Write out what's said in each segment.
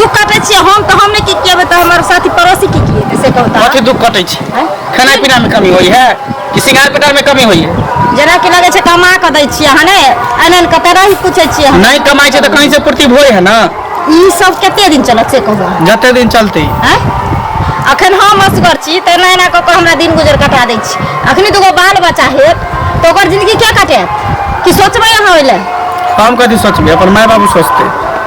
दुख काटै छियै हम तऽ हम नहि की केबै तऽ हमर साथी पड़ोसी की की हेतै से कहू तऽ कथी दुख कटै छै हैं? खाना पीना में कमी होई है कि सिंगार पटार में कमी होई है जेना कि लगै छै कमा कऽ दै छियै अहाँ ने आनि आनि कऽ तऽ रही पूछै छियै हम नहीं कमाई छै तो कहीं से पूर्ति भोय है ना ई सब कते दिन चलत से कहू अहाँ जते दिन चलते हैं? अखन हम असगर छी तऽ एना एना कऽ कऽ हमरा दिन गुजर कटा दै छी अखनी दूगो बाल बच्चा हेत तऽ ओकर जिंदगी क्या कटेत कि सोचबै अहाँ ओहि लए हम कथी सोचबे अपन माय बाबू सोचते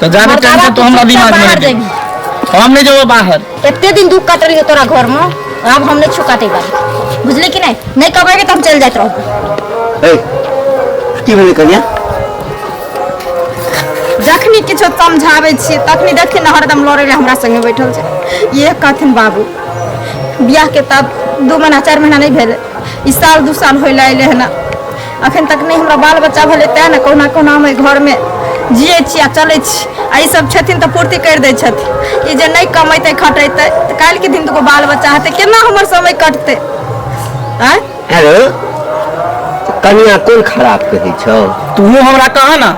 तो ज्यादा टाइम से तो हमरा दिमाग में रहे हम नहीं जाओ बाहर इतने दिन दुख काट रही तोरा घर में अब हम नहीं छुकाते बारी बुझले कि नहीं नहीं कमाएंगे तो हम चल जाते रहो ए की भेलै कनिया जखनी किछो समझाबै छियै तखनी देखी ने हरदम लड़ै लए हमरा संगे बैठल छै ये कहथिन बाबू बियाह के तब दू महीना चारि महीना नहि भेलै ई साल दू साल होय लए अयलै हन अखन तक नहि हमरा बाल बच्चा भेलै तैँ ने कहुना कहुना हम एहि घरमे जियै छी आ चलै छी आ ई सब छथिन तऽ पूर्ति करि दै छथिन ई जे नहि कमेतै खटेतै तऽ काल्हिके दिन दुगो बाल बच्चा हेतै केना हमर समय कटतै आँय हेलो कनिया कोन खराब कहै छौ तू हमरा कह ना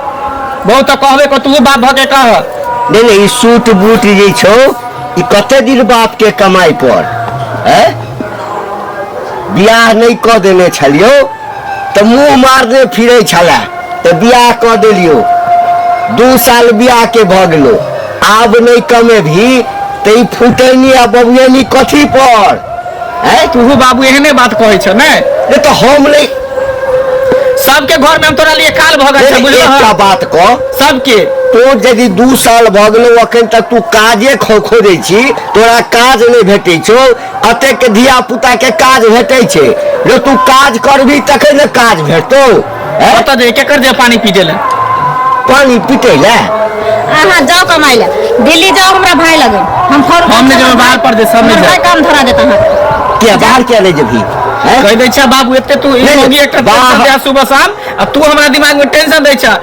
बहुत तो कहबे को तू बाप भ के कह नहि नहि ई सूट बूट जे छौ ई कते दिन बाप के कमाई पर हैं बियाह नहि कऽ देने छलियौ तऽ मुँह मारने फिरै छला तऽ बियाह कऽ देलियो दू साल बियाह के भऽ गेलो आब नहि कमे भी तऽ ई फुटैनी आ बबुएनी कथी पर हैं तूहू बाबू एहने बात कहै छ ने ये तो हम नहीं सबके घर में हम तोरा लिए काल भऽ गेल छै बुझलह एकटा बात कह सबके तो यदि दू साल भऽ गेलो अखन तक तू काजे खोखो दै छी तोरा काज नहि भेटै छौ कतेक धिया पुता के काज भेटै छै जो तू काज करबी तखन ने काज भेटतौ हैं? ओतऽ जे केकर जे पानी पीटे ले पानी पीटे ले अहाँ जाओ कमाई ले दिल्ली जाओ हमरा भाई लगे हम फोन हम नहीं जाएब, बाहर पर दे, सब नहीं जाएब। काम धरा देता अहाँ के बाहर किया नहीं जेबही हैं? कह दै छै बाबू एते तू ई नहीं, होगी एकटा बाहर- टेंशन दे सुबह शाम आ तू हमरा दिमाग में टेंशन दै छै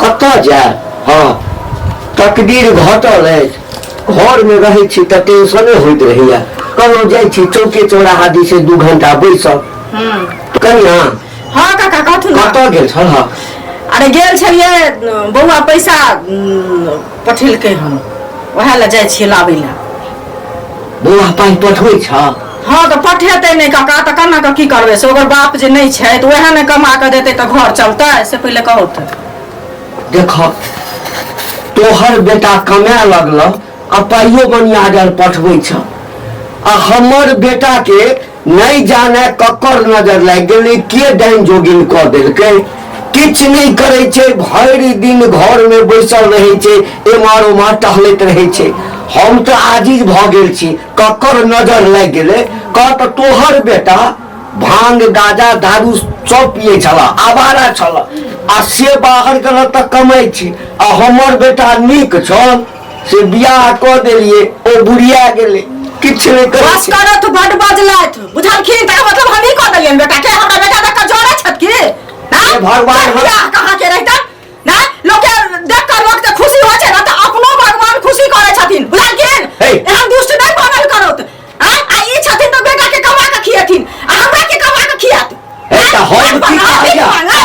कतऽ जायब हँ तकदीर घटल अछि घरमे रहै छी तऽ टेंशने होइत रहैया कहलहुँ जाइ छी चौके चौराहा दी से दू घंटा बैसब कनिया हँ काका कहथुन ने। कतऽ गेल छल हँ अरे गेल छलियै बौआ पैसा पठेलकै हन ओएह लए जाइ छियै लाबै लए बौआ पाइ पठबै छ हँ तऽ पठेतै नहि काका तऽ केना कऽ की करबै से ओकर बाप जे नहि छै तऽ ओएह ने कमा कऽ देतै तऽ घर चलतै से पहिले कहू तऽ देख तोहर बेटा कमाए लगल आ पाइयो बनिया जाल पठबै छ आ हमर बेटाके नहीं जाने ककर नजर लागि गेलै के डाइन जोगिन कऽ देलकै किछु नहि करै छै भरि दिन घरमे बैसल रहै छै एम्हर ओम्हर टहलैत रहै छै हम तऽ आजिज भऽ गेल छी ककर नजर लागि गेलै कह तऽ तोहर बेटा भांग गाजा दारू सब पिए छल आवारा छल आ से बाहर गेल तऽ कमाइ छी आ हमर बेटा नीक छल से बियाह कऽ देलियै ओ बुढ़िया गेलै किछु नहि करै बस छै करत बड बजलत बुझलखिन तऽ मतलब हमही कऽ देलियन बेटा के हमरा बेटा तक जोड़े छत की हे भगवान, हम- बियाह कहाँ के रहता ना लोग के देख कर लोग के खुशी होय छै ना तऽ अपनो भगवान खुशी करै छथिन बुझलखिन हे। एहन दुष्ट नहि बनल करत आ आ ई छथिन तऽ बेटा के कमा के खियेथिन आ हमरा के कमा के खियत हे तऽ हम की कहलियै?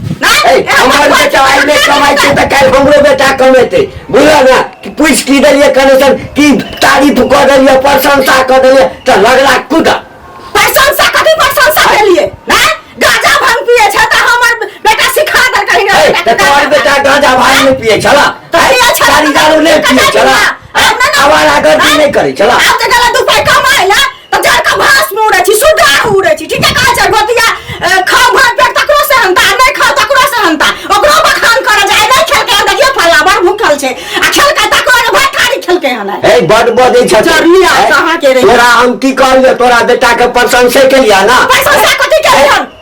ए, हमर बेटा आइ नहि कमाइ छै तऽ काल्हि हमरो बेटा कमेतै बुझल ने कि पूछि की देलियै कनेक्शन की तारीफ कऽ देलियै प्रशंसा कऽ देलियै तऽ लगला कुदा प्रशंसा कथी प्रशंसा भेलिए हैं गाजा भांग पिए छै त हमर बेटा सिखा दर कहीं ए, ना तऽ तोहर बेटा गांजा भांग नहि पियै छला तऽ पियै छला, तारी दारू नहि तऽ पियै कतऽ छला छला? आब नहि ने- आवारा गर्दी नहि करै छला आब त गला दू पाई कमाइला तऽ जड़ के भास में उड़े छी सुगा उड़े छी ठीके कहे छै गोतिया खाओ भर पेट तकरो से हंता आ नहीं खाओ तकरो से हंता ओकरो बखान करे जाए नहीं खेलके हन देखिए फला बड़ भूखल छै आ खेलके तकरो ने भात खारी खेलके हन हे बड बजै छथिन जरूरी आ, हैं? कहाँ के रही? तोरा हम की कहलियै तोरा बेटा के प्रशंसे केलियै ना पैसा से कथी के हन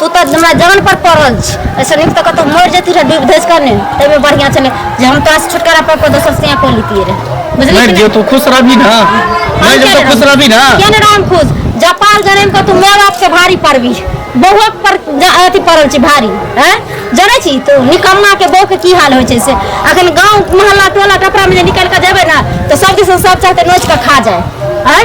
तू तऽ हमरा जान पर पड़ल छी ऐसे नीक तऽ कतहु मरि जेती रहे डूबि धसि कऽ ने ताहिमे बढ़िआँ छलै जे हम तोरा छुटकारा पाबि कऽ दोसर से कऽ लेतियै रहे बुझलियै मरि कि जो तू खुश रहबी ना मरि जो तू खुश रहबी ना किया ने राम खुश जपाल जनम के तू माय बाप से भारी पड़बी बहुआ पर ज- अथी पड़ल छी भारी हैं जानै छी तू निकम्मा के बहू के की हाल होइ छै से अखन गांव मोहल्ला टोला टपरा में जे निकल के जेबै ना तो सब दिस सब चाहते नोच के खा जाए हैं